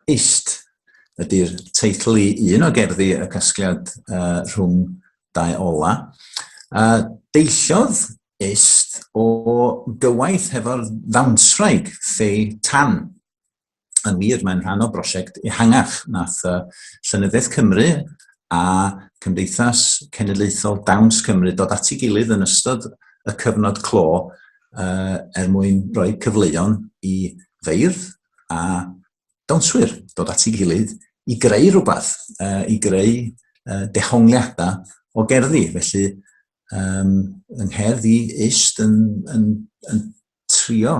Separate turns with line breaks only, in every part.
Eist ydy'r teitl i un o gerddi y casgliad uh, rhwng dau ola. Uh, deilliodd Eist o gywaith hefo'r ddawnswraig Fei Tan. yn wir, mae'n rhan o brosiect ehangach nath uh, Llenyddiaeth Cymru a Cymdeithas Cenedlaethol Dawns Cymru dod at ei gilydd yn ystod y cyfnod clo uh, er mwyn rhoi cyfleon i feirdd a dawnswyr dod at ei gilydd i greu rhywbeth, uh, i greu uh, dehongliadau o gerddi. Felly, um, yng ngherdd i ist yn, yn, yn trio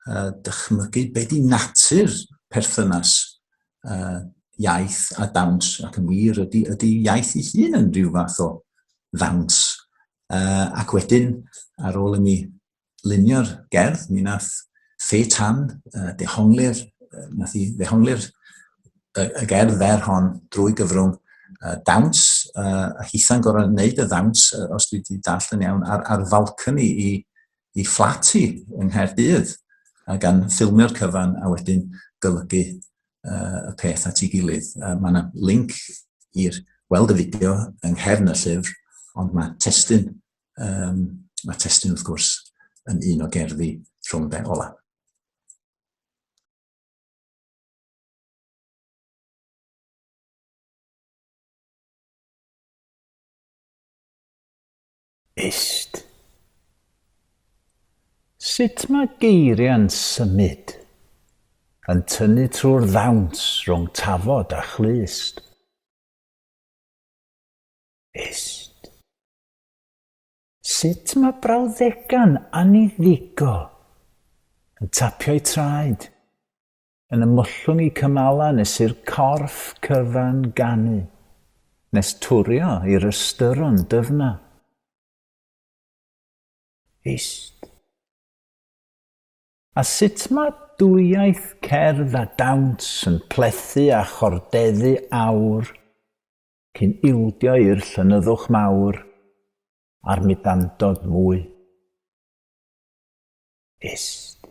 uh, dychmygu be di natur perthynas uh, iaith a dawns, ac yn wir ydy, ydy iaith ei hun yn rhyw fath o ddawns. Uh, ac wedyn, ar ôl imi lunio'r gerdd, mi nath Fe Tan uh, dehongli'r, uh, nath i ddehongli'r y, y gerdd fer hon drwy gyfrwng uh, dawns, uh, a hitha'n gorau wneud y ddawns, uh, os dwi wedi dall yn iawn, ar, ar falcony i, i fflat hi yng Nghaerdydd a gan ffilmio'r cyfan a wedyn golygu uh, y peth at ei gilydd. Uh, mae yna link i'r weld y fideo yng nghefn y llyfr, ond mae testyn, um, mae testyn wrth gwrs yn un o gerddi rhwng de ola. Ist. Sut mae geiriau'n symud, yn tynnu trwy'r ddawns rhwng tafod a chlust. Ist. Sut mae brawddega'n anniddigo, yn tapio'u traed. Yn ymwllwng y cymalau nes i'r corff cyfan ganu, nes twrio i'r ystyron dyfna. Hist. A sut mae dwyieith cerdd a dawns yn plethu a chordeddu awr cyn ildio i'r llonyddwch mawr a'r mudandod mwy. Hist.